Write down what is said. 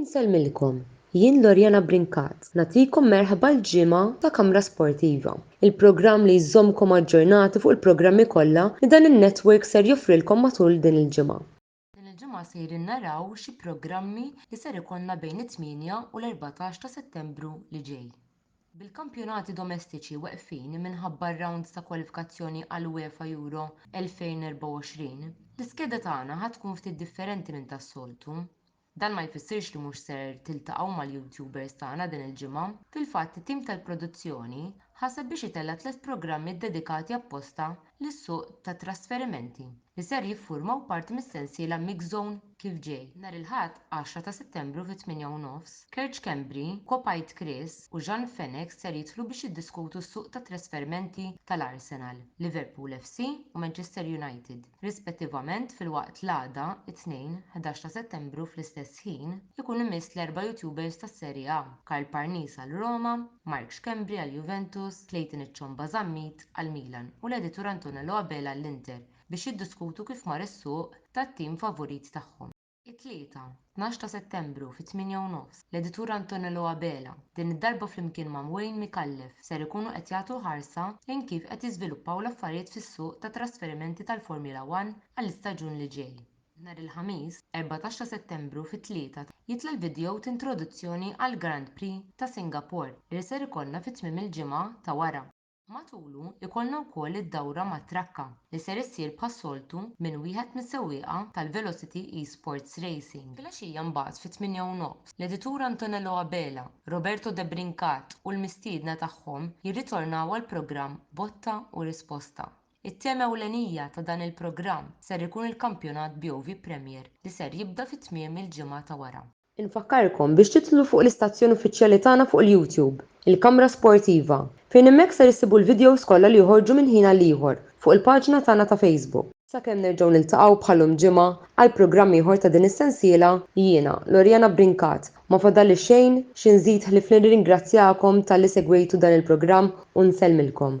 Insellmilkom, jien Loriana Brincat nagħtikom merħba l-ġimgħa ta' Kamra Sportiva, il-programm li jżommkom aġġornati fuq il-programmi kollha li dan in-network ser joffrilkom matul din il-ġimgħa. Din il-ġimgħa sejrin naraw xi programmi li ser ikollna bejn it-tmienja u l-erbatax ta' Settembru li ġej. Bil-kampjonati domestiċi weqfin minħabba r-rounds ta' kwalifikazzjoni għall-UEFA Euro 2024, l-iskeda tagħna ħa tkun ftit differenti minn tas-soltu. Dan ma jfissirx li mhux ser tiltaqgħu mal-YouTubers tagħna din il-ġimgħa. Fil-fatt it-tim tal-produzzjoni ħaseb biex itella' tliet programmi ddedikati apposta lis-suq tat-trasferimenti li ser jiffurmaw parti mis-sensiela Mix Zone kif ġej. Nhar il-Ħadd, għaxra ta' Settembru fit-tmienja u nofs, Kerċ Kembri, Kopajt Chris u Jean Fenech ser jidħlu biex jiddiskutu s-suq tat-trasferimenti tal-Arsenal, Liverpool FC u Manchester United. rispettivament filwaqt l-għada, it-Tnejn, 11 ta' Settembru fl-istess ħin, ikun imiss l-erba' YouTubers tas-Serie A, Karl Parnis għal Roma, Mark Schembri għal Juventus, Clayton iċ-Ċomba Zammit għal Milan u l-editur Antonello Abela għall-Inter biex jiddiskutu kif mar is-suq tat-tim favurit tagħhom. It-Tlieta, tnax ta' Settembru fit-tmienja u nofs, l-Editur Antonello Abela, din id-darba flimkien ma' Wayne Micallef, ser ikunu qed jagħtu ħarsa lejn kif qed jiżviluppaw l-affarijiet fis-suq tat-trasferimenti tal-Formula One għall-istaġun li ġej. Nhar il-Ħamis, erbatax ta' Settembru fit-tlieta jitla' l-vidjow t'introduzzjoni għall-Grand Prix ta' Singapore li ser ikollna fi tmiem il-ġimgħa ta' wara. Matulu jkollna wkoll id-dawra mat-trakka li ser issir bħas-soltu minn wieħed mis-sewwieqa tal-Velocity Esports Racing. Filgħaxija mbagħad fit-tmienja u nofs, l-editur Antonello Abela, Roberto Debrincat u l-mistiedna tagħhom jirritornaw għall-programm Botta u Risposta. It-tema ewlenija ta' dan il-programm ser ikun il-kampjonat BOV Premier li ser jibda fi tmiem il-ġimgħa ta' wara. Infakkarkom biex tidħlu fuq l-istazzjon uffiċjali tagħna fuq il-YouTube, il-Kamra Sportiva, fejn hemmhekk ser issibu l-videos kollha li joħorġu minn ħin għal ieħor fuq il-paġna tagħna ta' Facebook. Sakemm nerġgħu niltaqgħu bħal lum ġimgħa għal programm ieħor ta' din is-sensiela, jiena, Loriana Brincat, ma fadalli xejn xi nżid ħlief nirringrazzjakom talli segwejtu dan il-programm u nsellmilkom.